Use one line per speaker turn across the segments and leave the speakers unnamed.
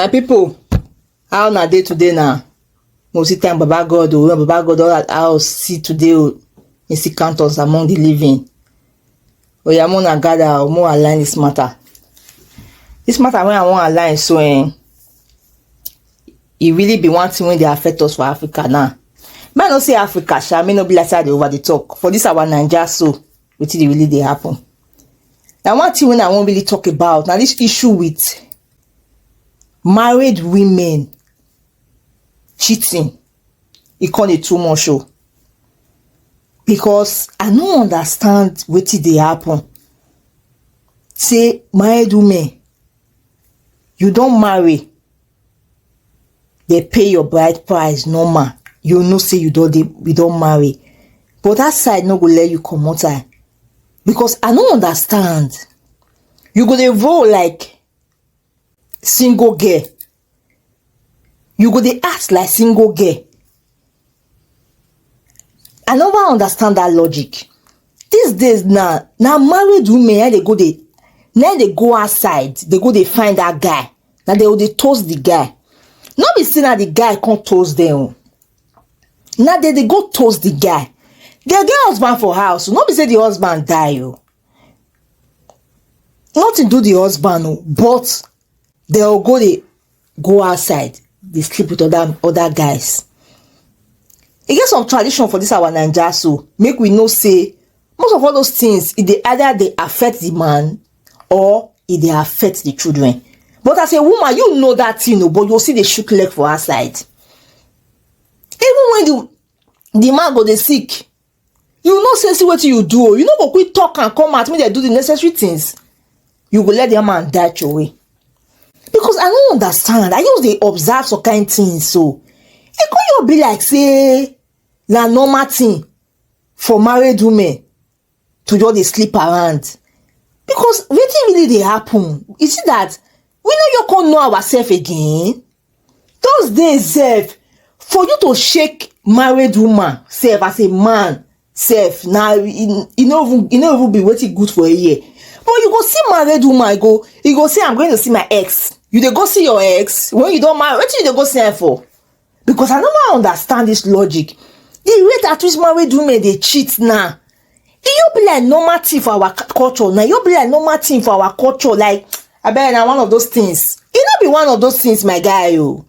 my people, how na dey today na no see time baba god o oh, baba god don allow us see today o oh, he still count us among the living oya mo na gather o mo align this matter this matter wey i wan align so um, e really be one thing wey dey affect us for africa now me i no say africa sha me no be like say i dey over dey talk for this our naija so wetin dey really dey happen na one thing wey i wan really talk about na this issue with married women cheating e come dey too much o because I no understand wetin dey happen say married women you don marry dey pay your bride price normal you know say you don dey you don marry but that side no go let you comot eye because I no understand you go dey roll like single girl you go dey act like single girl i never understand that logic these days na na married women na dey go dey na dey go outside dey go dey find that guy na dey go dey toast the guy no be say na the guy come toast them o na dey dey go toast the guy dey get husband for house no be say the husband die o nothing do the husband o but they'll go they go outside they sleep with other other guys e get some tradition for this our naija so make we know say most of all those things e dey either dey affect the man or e dey affect the children but as a woman you know that thing o but you still dey shook leg for outside even when the the man go dey sick you know say see wetin you do o you no go quick talk and come out make dem do the necessary things you go let the man die throway because i no understand i just dey observe some kind things so e come just be like say na normal thing for married women to just dey sleep around because wetin really dey happen you see that we no yoko know ourselves again Those days sef, for you to shake married woman sef as a man sef na e no even e no even be wetin good for a year. But you go see married woman go you go say I'm going to see my ex. You dey go see your ex when you don marry wetin you dey go see am for? Because I no wan understand this logic. The rate at which married women dey cheat now e no be like normal thing for our culture na e no be like normal thing for our culture like abeg na one of those things e no be one of those things my guy o oh.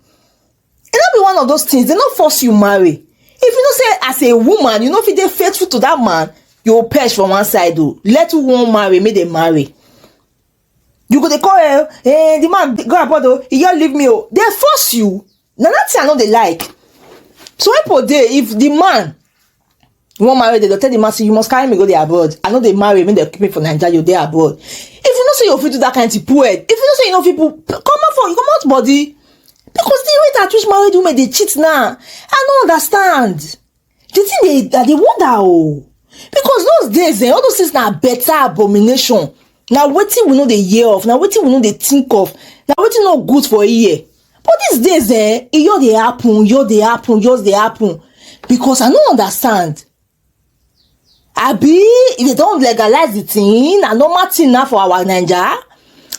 e no be one of those things dem no force you marry if you know say as a woman you no fit dey faithful to that man you go perish for one side o oh. let who wan marry make dem marry you go dey call eh eh the man go abroad o oh. he just leave me o dey force you na that thing i no dey like so when people dey if the man you wan marry dem go tell the man say you must carry me go dey abroad i no dey marry make dem keep me for naija you dey abroad if you know say you fit do that kind thing poor head if you know say you no fit put comot for comot body because the rate at which married women dey cheat now i no understand the thing dey that dey wonder oh because those days eh all those things na better abomination na wetin we no dey hear of na wetin we no dey think of na wetin no good for here but these days eh e just dey happen just dey happen just dey happen because i no understand abi if they don legalize the thing na normal thing na for our naija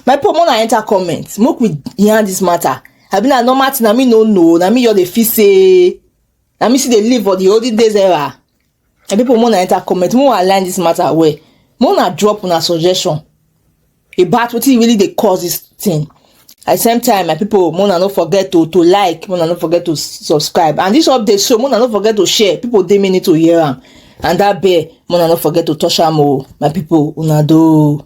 my people more na enter comment make we yarn this matter abi na normal thing na me no know na me just dey feel say na me still dey live for the olden days era and people more na enter comment more align this matter well more na drop una suggestion about wetin really dey cause this thing at the same time my people more na no forget to to like more na no forget to subscribe and this update show more na no forget to share people dey me need to hear am and that bell more na no forget to touch am o oh, my people una do.